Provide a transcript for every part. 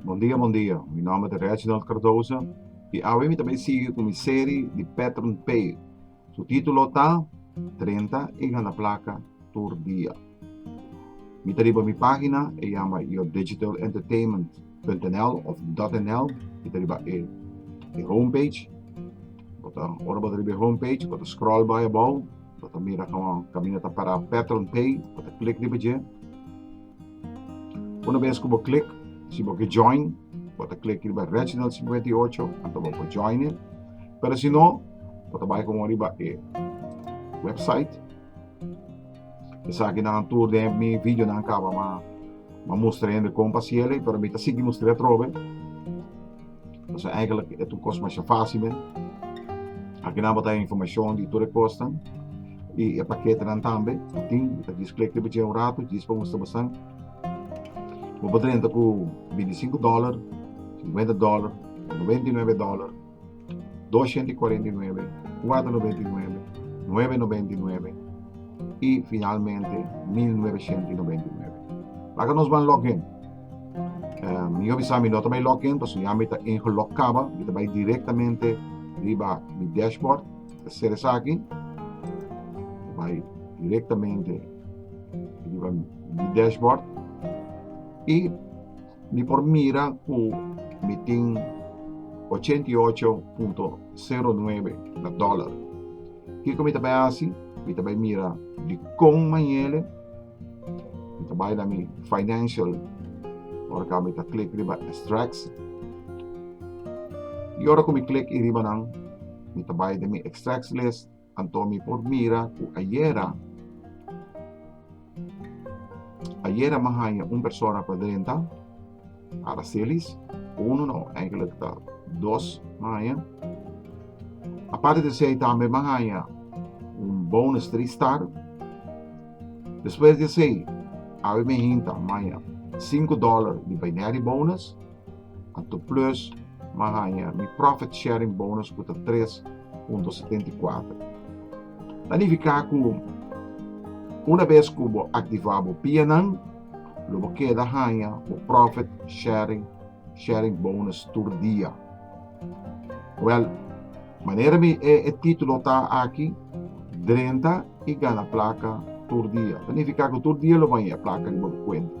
Bon dia bon dia mi nomber ta Reginald Cardoza y awe mi ta bay sigui cu mi serie di Pattern P su titulo ta Trenta y gana placa tur dia mi ta riba mi pagina e yama Your Digital Entertainment. .nl of .nl y ta riba e e home page bo ta ora bo ta riba e home page bo ta scroll bai abou bo ta mira kaman kaminda ta para pattern pay bo ta click riba dje una bes ku bo click si bo ke join bo ta click riba Reginald Cincuenta y Ocho anto bo por joine pero si no bo ta bai komo riba e website esaki nan tur den mi videonan kaba ma Ma mustra hende kon pa siel ei, pero mi ta sigui mustra e atrobe. Pasobra eigenlijk e tur kos masha fásil men. Akinan bo ta haya informashon di tur e kosnan i e paketenan tambe. Tin, mi ta djis klik riba dje un ratu, djis pa mustra bosan. Bo por drenta ku bintisinku dòler, sinkuenta dòler, nobenta i nuebe dòler. 249, 499, 999 y finalmente 1999. Laga nos van login. Um, yo bisa mi nota bay login, paso ya mi ta ingelog kaba, mi ta bay directamente riba mi dashboard, ta ser esa aquí, bay directamente riba mi dashboard y Mi por mira cu mi tin ochenta i ocho punto sero nuebe na dollar. Kico mi ta bay haci? Mi ta bay mira dicon manjele mi ta bay na mi financial ora ca mi ta click riba extracts. Y ora cu mi click e riba nan mi ta bay den mi extracts list. Anto mi por mira cu ayera, ayera me haya un persona pa drenta, Aracelis, uno no, eigenlijk ta dos me haya. Aparte de zij también me haya un bonus drie star. Después de zij, abi me hinta, me haya 5 dollar di binary bonus. Anto plus ma haña mi profit sharing bonus ku ta 3.74. Ta nifiká ku una bes ku bo aktivá bo pianan lo bo keda haña bo profit sharing sharing bonus tur dia. Wèl, manera mi e e título ta aki, drenta i gana plaka tur dia. Ta nifiká ku tur dia lo bo haña e plaka riba bo kuenta.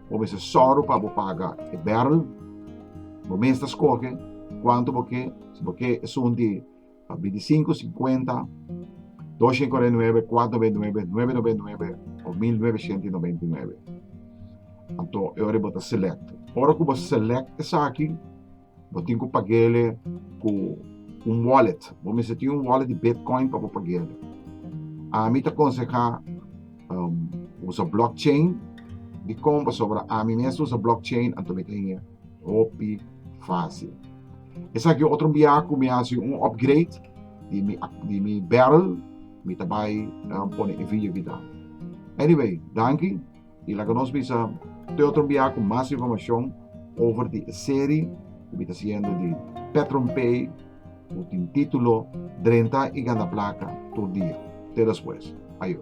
Bo mester sòru pa bo paga e bèrrel. Bo mes ta skohe kuantu bo ke, si bo ke esun di bintisinku, sinkuenta, dosha i kòrta i nuebe, kuat nobenta i nuebe, nuebe nobenta i nuebe òf mil nuebeshenta i nobenta i nuebe. Anto e ora bo ta selèkt. Ora ku bo selèkt esaki. Bo tin ku pagele ku un wallet. Bo mester tin un wallet di Bitcoin pa bo pagele. Ami ta konsehá um, usa blockchain. Dikon? Pasobra ami mes ta usa blockchain, anto mi ta hende hopi fásil. Esaki otro biaha ku mi hasi un upgrade di mi, di mi barrel. Mi ta bai um, pone e video aquí ta. Anyway, danki. Y laga nos bisa te otro bia cu mas informacion over di e serie cu mi ta haciendo di PetronPay cu tin titulo Drenta y gana placa tur dia. Te despues. Ayo.